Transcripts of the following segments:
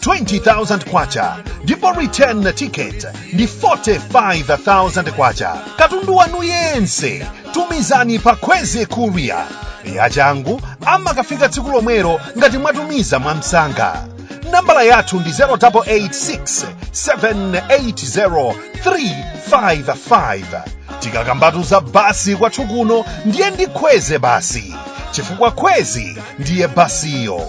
20,000 kwacha ndipo return ticket ndi 45,000 kwacha katundu wanu yense tumizani pa Kwezy courier yachangu amakafika tsiku lomwelo ngati mwatumiza mwamsanga nambala yathu ndi 0886 780 355 tikakambatu za basi kwathu kuno ndiye ndi Kwezy basi chifukwa Kwezy ndiye basiyo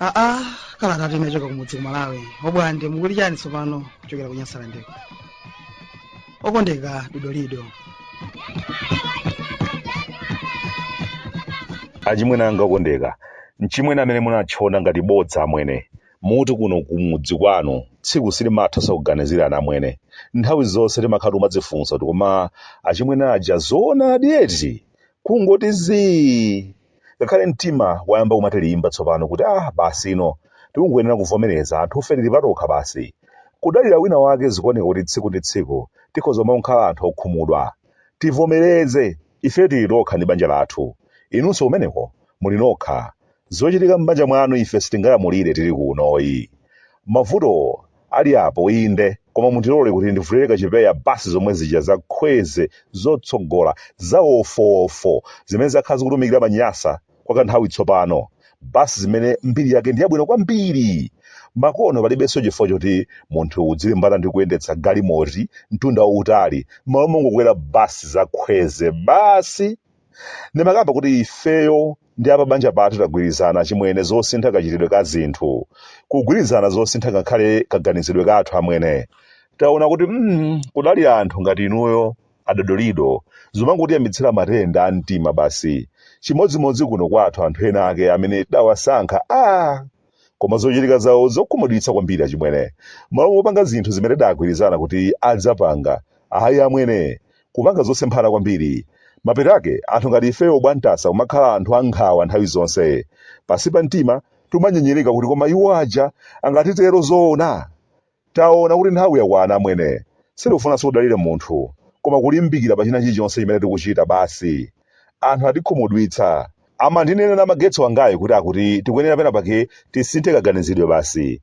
aa kalata inachoka kumudzi ku malawi obwande mukuli chani tsopano kuchokera ku Nyasalandeko okondeka dodolido achimwene anga okondeka mchimwene amene munatchona ngati bodza amwene muti kuno kumudzi kwanu tsiku silimatha osakuganizirani amwene nthawi zonse timakhala timadzifunsa kuti koma achimwene aja zoonadi eti kungoti zii ngakhale mtima wayamba kumatilimba tsopano kuti ah basino tikungoyenera kuvomereza anthufe tili patokha basi kudalira wina wake zikuoneka kuti tsiku ndi tsiku tikhoza kumakhala anthu okhumudwa tivomereze Ife tili tokha ndi banja lathu. Inunso kumeneko, muli nokha. Zochitika m'banja mwanu ife sitingalamulire, tili kuno ayi. Mavuto ali apo, inde, koma mundilole kuti ndivulire kachipewa basi zomwe zija za Kwezy zotsogola, za wofowofo, zimene zakhala zikutumikira Manyasa, kwa kanthawi tsopano, basi zimene mbiri yake ndi yabwino kwambiri. Makono palibenso chifukwa choti munthu uzilimbana ndi kuyendetsa galimoti mtunda wautali, m'malo mongokwera basi za Kwezy basi. Ndimakamba kuti ifeyo ndi apabanja pathu tagwirizana achimwene zosintha kachitidwe ka zinthu, kugwirizana zosintha ngakhale kaganizidwe kathu amwene. Taona kuti mm, kudalira anthu ngati inuyo adodolido zomangotiyambitsira matenda a mtima basi chimodzimodzi kuno kwathu anthu ena ake amene tidawasankha a koma zochitika zawo zokhumudwitsa kwambiri achimwene malo mopanga zinthu zimene tidagwirizana kuti adzapanga ayi amwene kupanga zosemphana kwambiri mapeto ake anthu ngati ifeyo bwantasa kumakhala anthu ankhawa nthawi zonse pansi pa mtima timanyenyereka kuti koma iwo aja angatitero zoona Taona kuti nthawi yakwana amwene. Sitikufunanso kudalira munthu, koma kulimbikira pa china chilichonse chimene tikuchita basi. Anthu atikhumudwitsa. Amandinenanena namagetsi wangayu kuti akuti tikuyenera pena pake tisinthe kaganizidwe basi.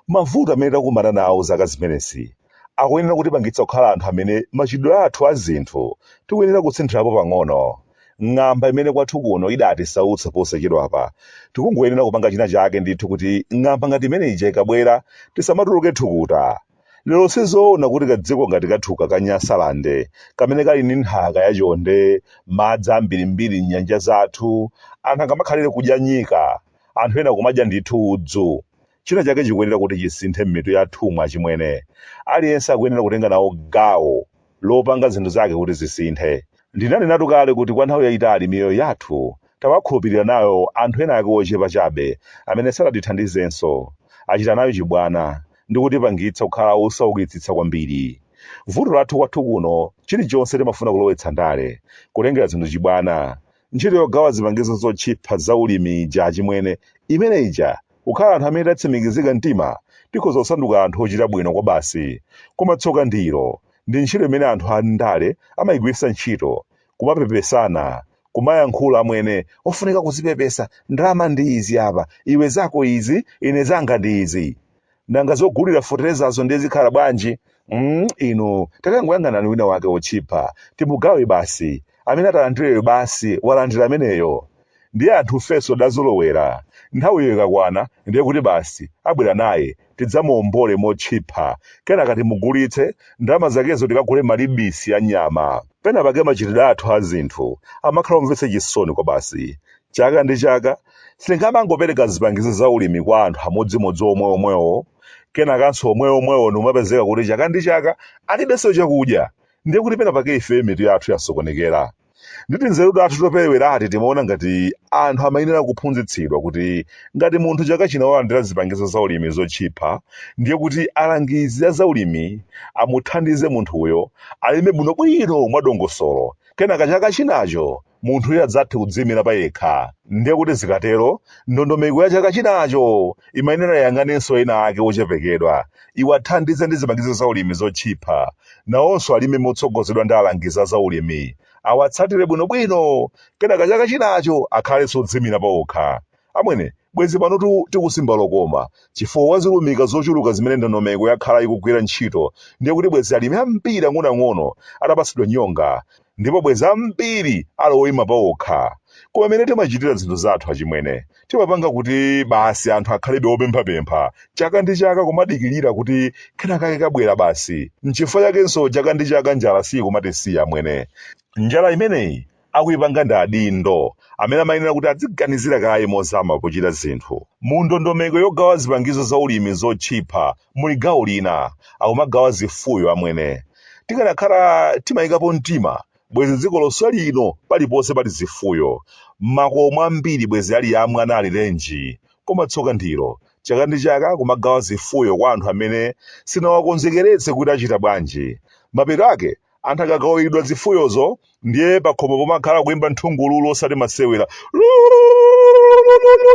Mavuto amene takumana nawo zaka zimenezi akuyenera kutipangitsa kukhala anthu amene machitidwe athu a zinthu tikuyenera kusinthirapo pang'ono. ng'amba imene kwathu kuno idatisautsa posachedwapa tikungoyenera kupanga china chake ndithu kuti ng'amba ngati imene ija ikabwera tisamatuluke thukuta lero sizoona kuti kadziko ngati kathuka ka nyasalande kamene kali ndi nthaka yachonde madzi ambirimbiri m'nyanja zathu anthu angamakhalire kudya nyika anthu ena kumadya ndithu udzu China chake chikuyenera kuti chisinthe m'mitu yathumu achimwene. Aliyense akuyenera kutenga nawo gawo lopanga zinthu zake kuti zisinthe. Ndinanenatu kale kuti kwa nthawi yayitali miyoyo yathu tawakhulupirira nayo anthu ena ake ochepa chabe amene sadatithandizenso. Achita nayo chibwana ndi kutipangitsa kukhala osaukitsitsa kwambiri. Vuto lathu kwathu kuno chilichonse timafuna kulowetsa ndale, kutengera zinthu chibwana. Ntchito yogawa zipangizo zotchipha za ulimi ija achimwene, imene ija kukhala anthu amene tatsimikizika mtima tikhoza kusanduka anthu ochita bwino kwabasi. Koma tsoka ndilo, ndi ntchito imene anthu a ndale amaigwiritsa ntchito, kumapepesana, kumayankhula amwene ofunika kuzipepesa, ndalama ndi izi apa, iwe zako izi, ine zanga ndi izi. nanga zogulira foterezazo ndiye zikhala bwanji mm, inu takangoyang'anani wina wake otchipa timugawe basi amene atalandireyo basi walandira ameneyo ndiye anthu ifenso tidazolowera nthawiyo ikakwana ndiye kuti basi abwera naye tidzamuwombole motchipa kenaka timugulitse ndalama zakezo tikagule malibisi a nyama pena pake machitidwe athu a zinthu amakhala omvetsa chisoni kwa basi Chaka ndi chaka, sitingamangopereka zipangizo za ulimi kwa anthu amodzimodzi omwe omwewo, kenakanso omwe omwewo ndikumapezeka kuti chaka ndi chaka alibenso chakudya, ndiye kuti pena pake ifeyo mitu yathu yasokonekera. Ndi tinzeru tathu toperewerati timaona ngati anthu amayenera kuphunzitsidwa kuti ngati munthu chaka chino walandira zipangizo za ulimi zotchipha, ndiye kuti alangizi a za ulimi amuthandize munthuyo alime bwinobwino mwadongosolo, kenaka chaka chinacho munthuyo adzathe kudziimira payekha. Ndiye kuti zikatero, ndondomeko ya chaka chinacho imayenera iyang'anenso ena ake ochepekedwa, iwathandize ndi zipangizo zaulimi zotchipha. Nawonso alime motsogozedwa ndi alangizi a zaulimi, awatsatire bwinobwino, kenaka chaka chinacho akhalenso odziimira paokha. Amwene, bwezi pano tikusimba lokoma, chifukwa kwa zilumika zochuluka zimene ndondomeko yakhala ikugwira ntchito ndiye kuti bwezi alimi ambiri ang'onoang'ono atapatsidwa nyonga ndipo bwezi ambiri ali oyima paokha. Koma mmene timachitira zinthu zathu achimwene, timapanga kuti basi anthu akhalebe opemphapempha chaka ndi chaka kumadikirira kuti kenakake kabwera basi. N'chifukwa chakenso chaka ndi chaka njala siikumatisiya amwene. Njala imeneyi akuipanga ndi adindo, amene amayenera kuti adziganizira kaye mozama pochita zinthu. Mu ndondomeko yogawa zipangizo za ulimi zotchipa muli gawo lina, akumagawa zifuyo amwene. Tikanakhala timaikapo mtima, bwezi dziko lonse lino paliponse pali zifuyo. Makomo ambiri bwezi ali amwana alirenji. Koma tsoka ndilo, chaka ndi chaka akumagawa zifuyo kwa anthu amene sinawakonzekeretse kuti achita bwanji. Mapeto ake anthu akagawiridwa zifuyozo ndiye pakhomo pomakhala kuimba nthungululu osati masewera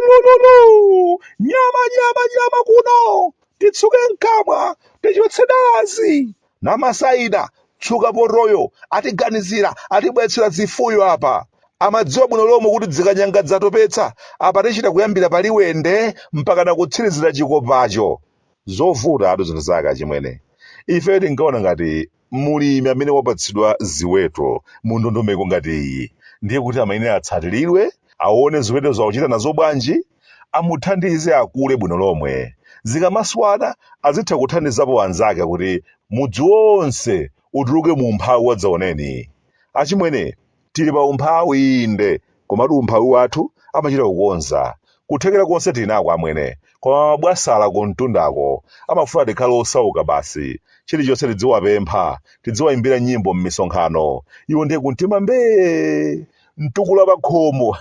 Lululululululu. nyama nyama nyama kuno titsuke mkamwa tichotse dalazi namasaida tsuka potoyo atiganizira atibwetsera zifuyo apa amadziwa bwino lomwe kuti dzikanyanga dzatopetsa apa tichita kuyambira paliwende mpaka nakutsirizira chikopacho zovuta atu zinthu zake achimwene ifeyo tinkaona ngati mlimi amene wapatsidwa ziweto mu ndondomeko ngati iyi ndiye kuti amayenera atsatiridwe, awone ziwetozo akuchita nazo bwanji, amuthandize akule bwino lomwe. Zikamaswana azitha kuthandizapo anzake kuti mudzi wonse utuluke mu umphawi wadzaoneni. Achimwene, Tili pa umphawi inde, komatu umphawi wathu amachita kukonza. Kuthekera konse tinako amwene, koma mabwasala kumtundako amafuna tikhale osauka basi. Chilichonse tidziwapempha, tidziwaimbira nyimbo m'misonkhano, iwo ndiye kumtima mbee! Mtukula pakhomo!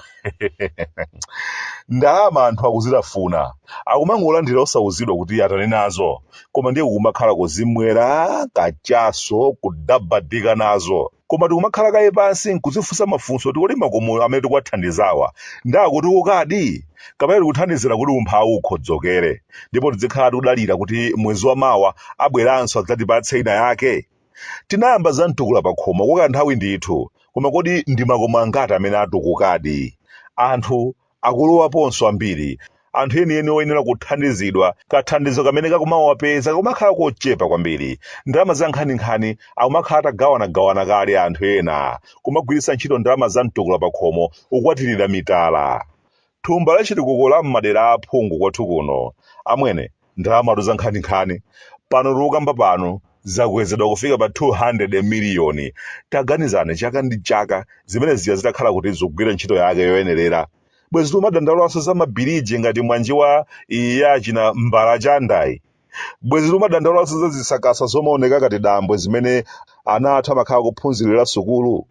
Ndalama anthu akuzitafuna, akumangolandira osauzidwa kuti atani nazo, koma ndiye kumakhala kuzimwera kachaso, kudabadika nazo. koma tikumakhala kaye pansi nkuzifunsa mafunso kuti kodi makomo amene tikuwathandizawa ndi akutukukadi kapena tikuthandizira kuti umphawi ukhodzokere ndipo tidzikhala tikudalira kuti mwezi wa mawa abweranso adzatipatse ina yake tinayamba za mtukula pa khomo kwa kanthawi ndithu koma kodi ndi makomo angati amene atukukadi anthu Akulowaponso ambiri, anthu enieni oyenera kuthandizidwa, kathandizo kamene kakumawapeza kakumakhala kochepa kwambiri, ndalama za nkhaninkhani akumakhala atagawanagawana kale anthu ena, kumagwiritsa ntchito ndalama za mtukula pakhomo, kukwatirira mitala. Thumba la chitukuko la m'madera a aphungu kwathu kuno, amwene, ndalamatu za nkhaninkhani pano tikukamba pano zakwezedwa kufika pa 200 miliyoni taganizani chaka ndi chaka zimene zija zitakhala kuti zikugwira ntchito yake yoyenerera bwezi tikumadandaulanso za mabiriji ngati mwanji wa iyi ya achina Mbalachanda iyi bwezi tikumadandaulanso za zisakasa zomaoneka ngati dambwe zimene ana athu amakhala kuphunzirira sukulu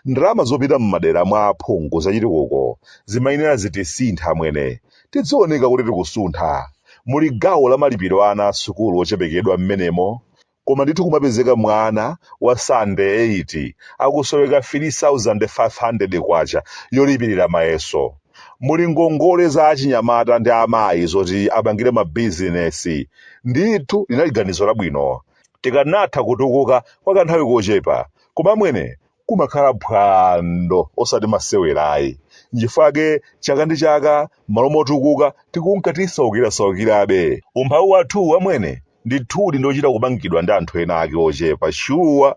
ndalama zopita m'madera mwa aphungu zachitukuko zimayenera zitisintha amwene tidzioneka kuti tikusuntha muli gawo la malipiro a ana asukulu ochepekedwa m'menemo koma ndithu kumapezeka mwana wa standard 8 akusoweka 3500 kwacha yolipirira mayeso muli ngongole za achinyamata ndi amayi zoti apangire mabizinesi ndithu linali ganizo labwino tikanatha kutukuka kwa kanthawi kochepa koma amwene kumakhala phwando osati masewerayi nchifukwake chaka ndi chaka m'malo motukuka tikunka tisaukirasaukirabe umphawi wathuwu amwene ndithudi ndi ochita kupangidwa ndi anthu ena ake ochepa shuwa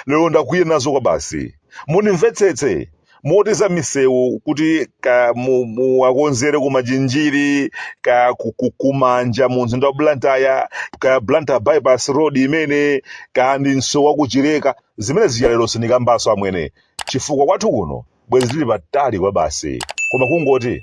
lero ndakwiya nazo kwabasi mundimvetsetse moti za misewu kuti ka mu- muwakonzere ku machinjiri ka ku- ku- kumanja mu mzinda wa blantyre ka blantyre bypass road imene ka ndi msewu wakuchileka zimenezija lero sindikambaso amwene chifukwa kwathu kuno bwezi tili patali kwa basi koma kungoti